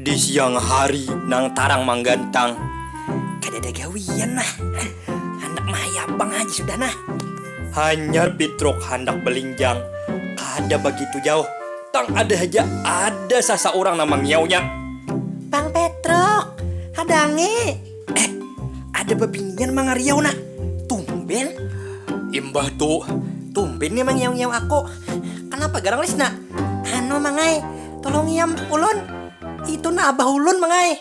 Di siang hari nang tarang manggantang, kadada gawian nah, handak mahayap pang haja sudah nah. Hanyar Pitruk handak balinjang, kada bagitu jauh, tang ada haja ada sasaurang nang mangiaunya. Pang Petruk, hadangi! Eh, ada bebinian mangariau nah. Tumben. Imbah tu, tumben nih mangiau-ngiau aku. Kanapa garang Lis nak? Anu mangai, tolong iam ulun. Itu nah abah ulun mangai.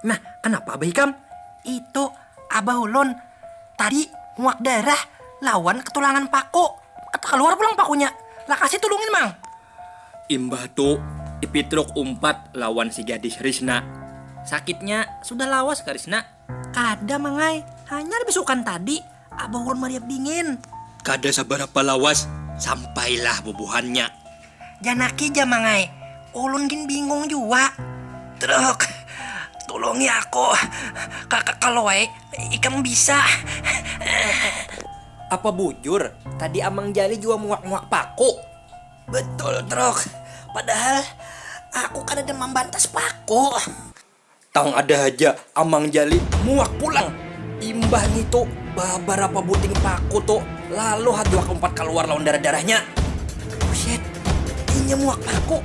Nah, kanapa abah ikam? Itu abah ulun tadi muak darah lawan ketulangan paku. Kata kaluar pulang pakunya. Lakasi tulungin mang. Imbah tu, Ipitruk umpat lawan si gadis Risna. Sakitnya sudah lawas ka Risna. Kada mang ai, hanyar bisukan tadi abah ulun mariap dingin. Kada sabarapa lawas sampailah bubuhannya. Janaki ja mang ai, ulun gin bingung jua. Truk, tulungi aku kalo ai ikam bisa. Apa bujur tadi Amang Jali jua muak-muak paku? Betul Truk, padahal aku kadada mambantas paku. Tang ada haja Amang Jali muak pulang, imbah ngitu babarapa buting paku tu lalu haduak umpat kaluar lawan darah-darahnya. Busyit, inya muak paku.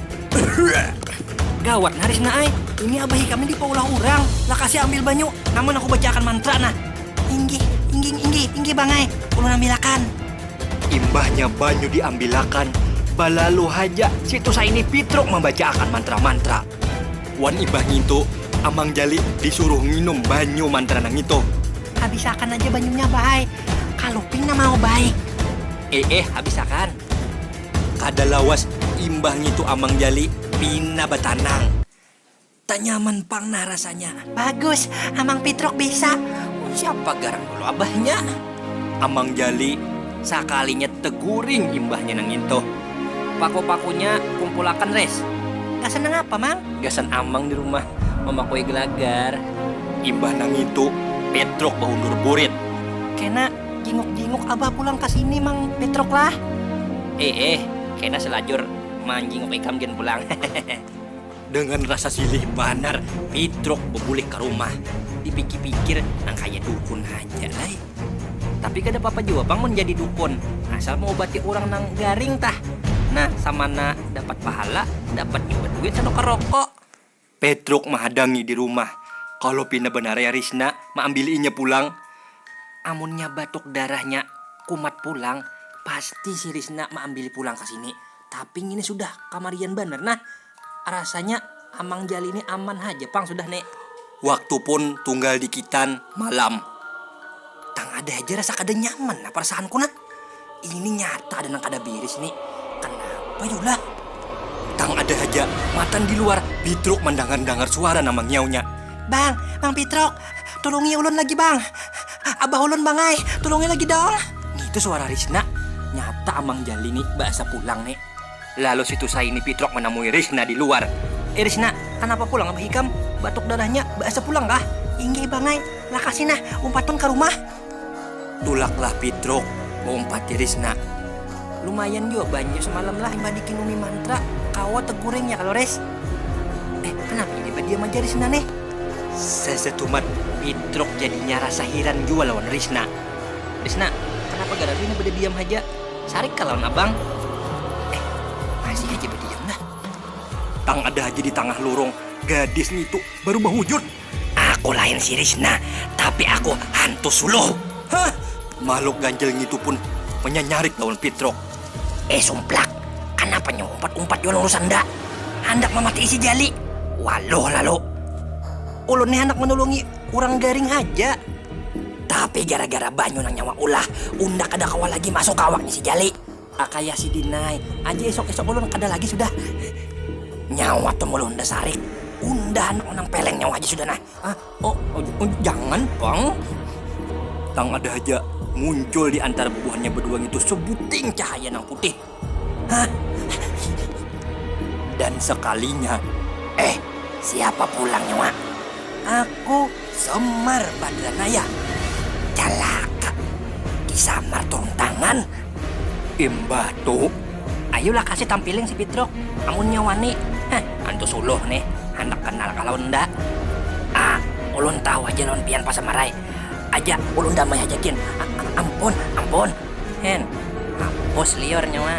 Gawat nah Risna ai, ini abah ikam ni dipaulah urang, lakasi ambil banyu, namun aku bacaakan mantra nah. Inggih, ingging, inggih, inggih Bang ai, ulun ambilakan. Imbahnya banyu diambilakan, balalu haja si Tusa ini pitruk mambacaakan mantra-mantra. Wan imbah ngintu, Amang Jali disuruh nginum banyu mantra nangitu. Habisakan haja banyunya Bah ai, kaluping nah mau baik. Eeh habisakan. Kada lawas imbah ngitu Amang Jali pina batanang. Tanyaman pang nah rasanya. Bagus, Amang Pitruk bisa. Siapa garang dulu abahnya? Amang Jali, sakalinya teguring imbahnya nang ngintu. Paku-pakunya kumpulakan Ris. Gasan nangapa Mang? Gasan Amang di rumah mamakui gelagar. Imbah nang ngintu, Pitruk baundur burit. Kena jinguk-jinguk abah pulang ka sini Mang Pitruk lah. Iih, kena salajur manjinguk ikam gin pulang. Dengan rasa silih banar, Pitruk bebulik ka rumah. Dipikir-pikir, nang kaya dukun haja ai. Tapi kada papa jua pang mun jadi dukun, asal maubati urang nang garing tah. Nah, samana dapat pahala, dapat jua duit sanukar rokok. Pitruk mahadangi di rumah. Kalo pina banar ya Risna maambili inya pulang. Amunnya batuk darahnya kumat pulang, pasti si Risna maambili pulang ka sini. Tapi ngini sudah kamarian banar nah. Rasanya Amang Jali ni aman haja pang sudah ne. Waktu pun tunggal dikitan malam. Tang ada haja rasa kada nyaman nah perasaanku nah. Ini nyata ada nang kada biris ni. Kanapa yu lah? Tang ada haja matan di luar Pitruk mandangar-dangar suara nang mangiaunya. Bang, Bang Pitruk, Tulungi ulun lagi bang. Abah ulun bang ai, tulungi lagi dong. Ngitu suara Risna. Nyata Amang Jali ni baasa pulang ni. Lalu si Tusai ini pitrok manamui Risna di luar. Eh Risna, kanapa pulang Abah ikam? Batuk darahnya baasa pulang kah? Inggih bang ai, lakasi nah, umpatun ka rumah. Tulaklah Pitruk, baumpati Risna. Lumayan jua banyu semalam lah imbah dikin Umi Mantra, kawa teguring ya kalo Ris? Eh, kanapa ini badiam aja Risna nih? Sesetumat Pitruk jadinya rasa hiran jua lawan Risna. Risna, kanapa garang ini bedediam haja? Sarik kah lawan abang? Eh, masih haja bediam nah. Tang ada haja di tangah lurung, gadis ngitu baru bahujur. Aku lain si Risna, tapi aku hantu suluh. Hah! Mahluk ganjil ngitu pun manyanyarik lawan Pitruk. Eh sumplak, kanapa nyu umpat-umpat jua lawan Rusanda? Handak mamatii si Jali? Waluh lalu. Ulun ni handak manulungi urang garing haja. Tapi gara-gara banyu nang nyawa ulah, unda kada kawa lagi masuk ka awaknya si Jali. Kakaya sidin ai aja isuk-isuk ulun kada lagi sudah. Nyawa tum ulun unda sarik, unda handak menang peleng nyawa haja sudah nah. Oh, jangan pang. Nang ada haja muncul di antara bubuhannya bedua ngitu sebuting cahaya nang putih. Hah? Dan sekalinya, eh siapa pulang nyawa? Aku. Samar badra naya, calaka disamar turung tangan. Imbah tu, ayu lah kasi tampiling si Pitruk amunnya wani. Heh, antu Suluh nih handak kanal kah lawan unda? Ah, ulun tahu haja lawan pian pasamar ai. Aja ulun damai haja gin. A-a-ampun, ampun. Hen, hapus liur nyawa.